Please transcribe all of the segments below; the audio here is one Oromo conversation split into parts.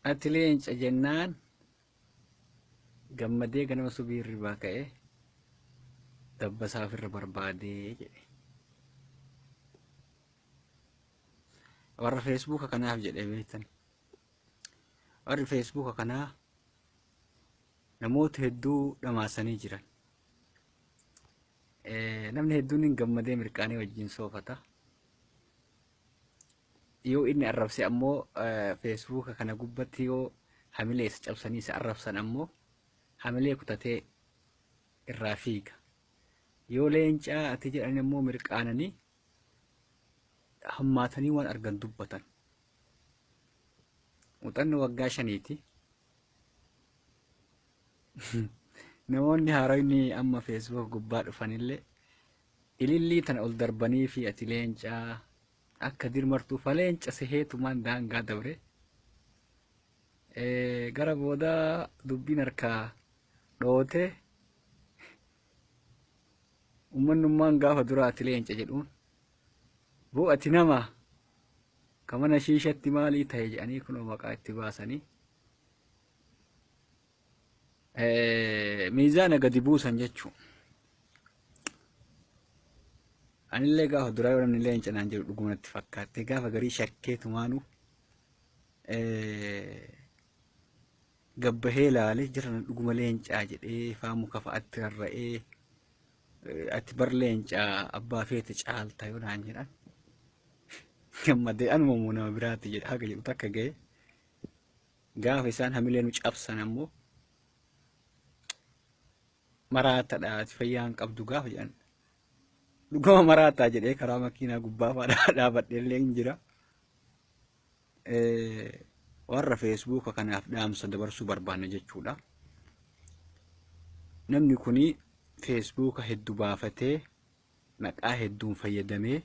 ati leenca jennaan gammadee ganama subii irraa ka'e dabbasaaf irra barbaadee jedhe warra feesbuuka kanaaf jedhe beektan warri feesbuuka kanaa namoota hedduu dhamaasanii jiran namni hedduun hin gammadee mirqaanee wajjin soofata yoo inni arrabse ammoo feesbuuka kana gubbatti yoo hamilee isa cabsanii isa arrabsan ammoo hamilee kutatee irraa fiiga. Yoo leencaa ati jedhan ammoo mirqaananii hammaatanii waan argan dubbatan. Muuxannoo waggaa shaniiti. Namoonni haaronni amma feesbuuka gubbaa dhufanillee Ilillii tana ol darbaniifi ati leenca akka dirmartuu fa leenca seheetumaan daangaa dabre. Gara boodaa dubbiin harkaa dhoote ummannummaan gaafa duraa ati leenca jedhuun boo ati nama ka mana shiishatti maalii ta'e jedhanii kunoo maqaa itti baasanii miizaana gadi buusan jechuu anillee gaafa duraa yoo namni illee hin cinaan jiru dhuguma natti fakkaatte gaafa garii shakkee tumaanu gabbahee laalee jira dhuguma leencaa jedhee faamu kafa atti rarra'ee ati bar leencaa abbaa feete caalta yoo naan jedhan gammadee anuma immoo nama biraatti jedha haga jedhu takka ga'e Gaafa isaan hamilee nu cabsan ammoo maraatadha ati fayyaa hin qabdu gaafa jedhan dhugama maraataa jedhee karaa makiinaa gubbaa fa'aa dhaabadhee illee hin jira. Warra feesbuuka kanaaf dhaamsa dabarsuu barbaanna jechuudha. Namni kun feesbuuka hedduu baafatee maqaa hedduun fayyadamee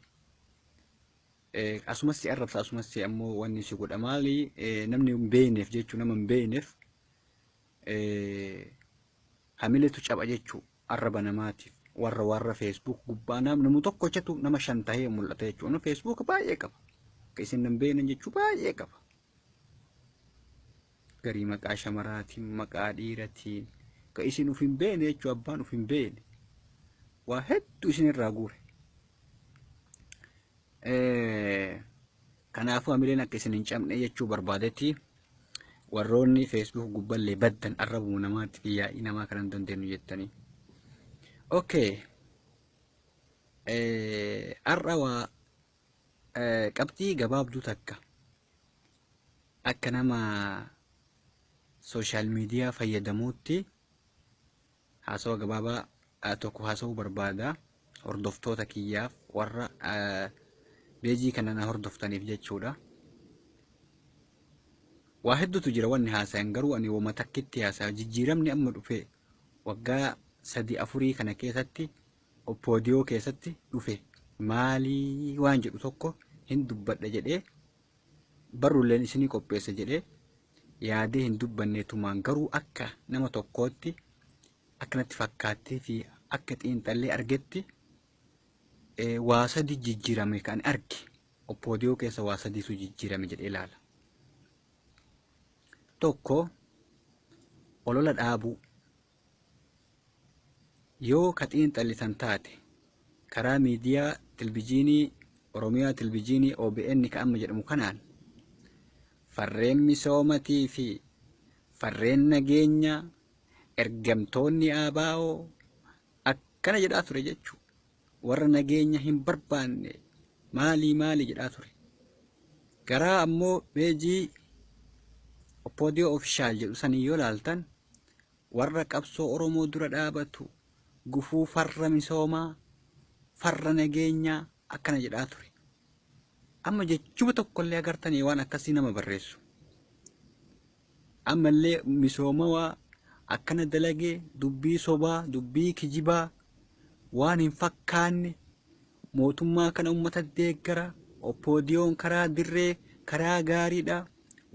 Asumas si arrabsa asumas si ammoo wanni si godha maali namni hin beeyneef jechuu nama hin beeyneef hamiletu caba jechuu arraba namaatiif warra warra feesbuuk gubbaa namu tokkochatu nama shan tahee mul'ata jechuu nama feesbuuk baay'ee qaba akka isin hin beeynen jechuu baay'ee qaba garii maqaa shamaraatiin maqaa dhiiratiin ka isin uf hin beeyne jechuu abbaan uf hin beeyne waa hedduu isin irraa guure Kanaafuu hamileen akka isin hin cabne jechuu barbaadetti warroonni feesbuuk gubballee baddan arrabuu namaatti fi yaa'ii namaa kanan dandeenyu jettanii. Okay. Har'a waa qabxii gabaabduu takka akka nama sooshaal miidiyaa fayyadamuutti Haasawa gabaabaa tokko haasa'uu barbaada. Hordoftoota kiyyaaf warra beejii kana na hordoftaniif jechuudha. Waa hedduutu jira wanni haasayan garuu ani wama takkitti haasaya jijjiiramni amma dhufe waggaa sadii afurii kana keessatti oppoodiyoo keessatti dhufe maalii waan jedhu tokko hin dubbadha jedhee barrulleen isinii qopheessa jedhee yaadee hin dubbanne tumaan garuu akka nama tokkootti akkanatti fakkaattee fi akka xiinxallee argetti eh, waa sadi jijjiirame kan arge oppoodiyoo keessa waa sadiitu jijjiirame jedhee ilaala. Tokko olola dhaabuu Yoo ka xiinxallitan taate, karaa miidiyaa Tilbijiinii Oromiyaa Tilbijiinii OBN ka amma jedhamu kanaan, farreen misoomatii fi farreen nageenyaa, ergamtoonni ABO akkana jedhaa ture jechuu. warra nageenya hin barbaanne maalii maalii jedhaa ture. Garaa ammoo peejii Oppoodiyoo Ofishaal jedhu sanii yoo laaltan warra qabsoo Oromoo dura dhaabatu gufuu farra misoomaa, farra nageenyaa akkana jedhaa ture. Amma jechuma tokkollee agartanii waan akkasii nama barreessu. Ammallee misoomawaa akkana dalage dubbii sobaa, dubbii kijibaa, waan hin fakkaanne mootummaa kana ummata deeggara, OPDOn karaa dirree karaa gaariidha,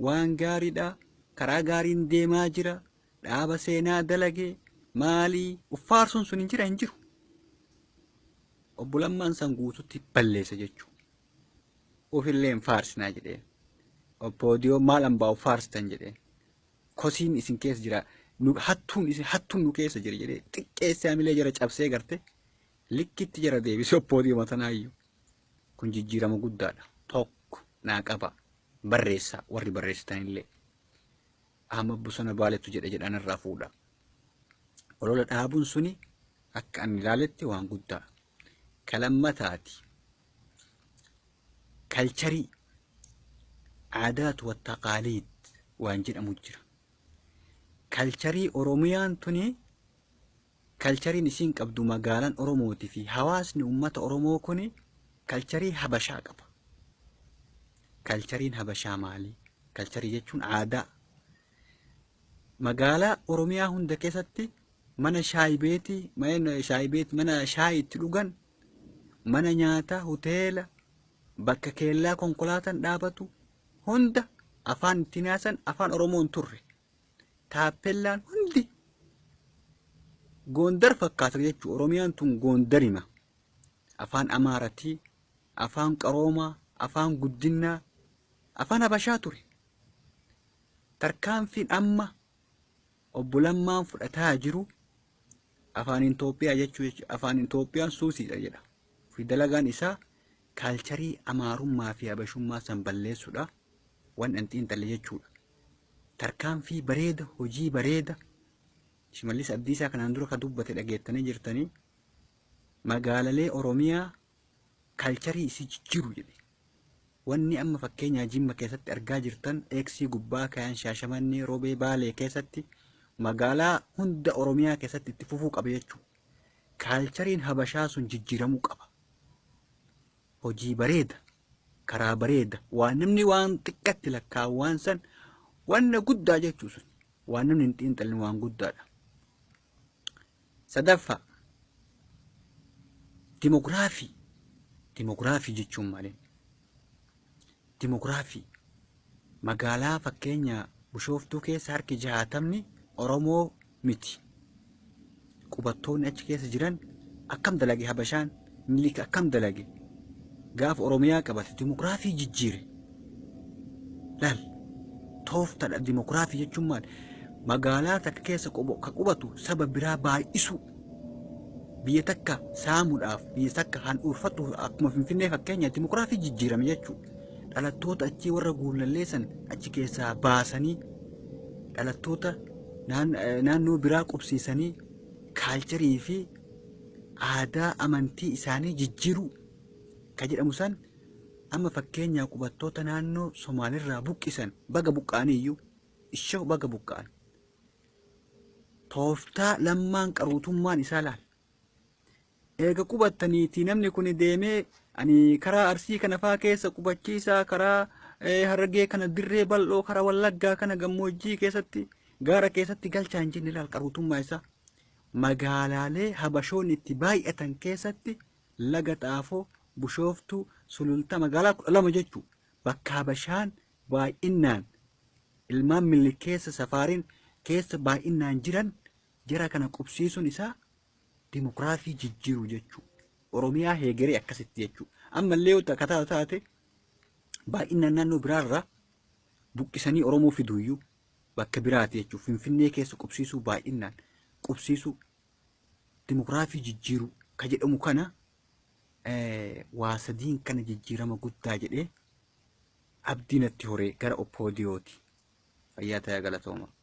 waan gaariidha, karaa gaariin deemaa jira, dhaaba seenaa dalage maali uf faarsuun sun hin jira hin jiru. Obbo Lammaan san guututti balleesse jechuudha. Ufillee hin faarsinaa jedheen. Oppoodiyoo maal ambaa'u faarstan jedheen. Kosiin isin keessa jira. Nu- Hattuun isin hattuun nu keessa jira jedhee xiqqeessee hamilee jara cabsee garte likkitti jara deebisee oppoodiyoo matanaayyuu. Kun jijjiirama guddaadha. Tokko naa qaba. Barreessaa warri barreessitanillee. Ahmad Bosona Baaletu jedhe jedhaan irraa fuudha. Olola dhaabuun suni akka ani ilaaletti waan guddaa. Ka lammataati kalcharii aadaat wa taqaaliid waan jedhamu jira. Kalcharii Oromiyaan tuni kalchariin isiin qabdu magaalaan Oromooti fi hawaasni uummata Oromoo kuni kalcharii Habashaa qaba. Kalchariin Habashaa maali? Kalcharii jechuun aadaa. Magaalaa Oromiyaa hunda keessatti mana shaayi beeti mana shaayi beeti mana shaayi itti dhugan mana nyaataa hoteela bakka keellaa konkolaataan dhaabatu hunda afaan ittiin haasan afaan oromoon turre taappellaan hundi goondar fakkaata jechuudha oromiyaan tun goondarima afaan amaaratii afaan qaroomaa afaan guddinnaa afaan habashaa ture tarkaanfiin amma Obbo Lammaan fudhataa jiru afaaniin Itoophiyaa jechuu jechuudha. Afaaniin Itoophiyaan suusiidha jedha. Fi dalagaan isaa kaalcharii Amaarummaa fi Habashummaa san balleessuudha. Waan an xiinxalle jechuudha. Tarkaanfii bareeda, hojii bareeda Shimallis Abdiisaa kanaan dura ka dubbate dhageettanii jirtanii magaalalee Oromiyaa kaalcharii isii jijjiiru jedhe. Wanni amma fakkeenyaa Jimma keessatti argaa jirtan X gubbaa kayan Shaashamannee, Robee, Baalee keessatti magaalaa hunda Oromiyaa keessatti itti fufuu qaba jechuu. Kaalchariin Habashaa sun jijjiiramuu qaba. Hojii bareeda, karaa bareeda, waan namni waan xiqqatti lakkaa'u waan san wanna guddaa jechuu sun. Waan namni hin xiinxalin waan guddaadha. Sadaffaa dimogiraafii. Dimogiraafii jechuun maali? Dimogiraafii magaalaa fakkeenya Bishooftuu keessa harki jahaatamni Oromoo miti. Qubattoonni achi keessa jiran akkam dalage Habashaan? Minilik akkam dalage gaafa Oromiyaa qabate dimokiraasii jijjiire. Laal tooftadha dimokiraasii jechuun maal? Magaalaa takka keessa qobo- ka qubatu saba biraa baay'isuu. Biyya takka saamuudhaaf biyya takka handhuurfatuuf akkuma Finfinnee fakkeenya dimokiraasii jijjiirame jechuudha. Dhalattoota achii warra guullalleessan achi keessaa baasanii dhalattoota naan- eh, naannoo biraa qubsiisanii kaalcharii fi aadaa amantii isaanii jijjiiruu ka jedhamu san amma fakkeenyaa qubattoota naannoo Somaaliirraa buqqisan baga buqqa'anii iyyuu ishoo baga buqqa'an tooftaa lammaan qaruutummaan isaa laal eega qubattaniitii namni kun deemee ani karaa arsii kana faa keessa qubachiisaa karaa eh, harargee kana dirree bal'oo karaa wallaggaa kana gammoojjii keessatti gaara keessatti galchaa hin jenne laal qaruutummaa isaa Magaalaalee Habashoonni itti baay'atan keessatti Laga Xaafoo, Bushooftuu, Sulultaa magaalaa 12 jechuu bakka Habashaan baay'innaan ilmaan Minilik keessa safaariin keessa baay'innaan jiran jara kana qubsiisuun isaa dimokiraasii jijjiiruu jechuu Oromiyaa heegeree akkasitti jechuu ammallee yoo takkataa taate baay'innaan naannoo biraarraa buqqisanii Oromoo fiduuyyuu bakka biraati jechuun Finfinnee keessa qubsiisuu baay'innaan qubsiisuu dimokiraafii jijjiiruu ka jedhamu kana waa sadiin kana jijjiirama guddaa jedhee abdii natti horee gara oppoodiyooti. Fayyaa ta'aa galatooma.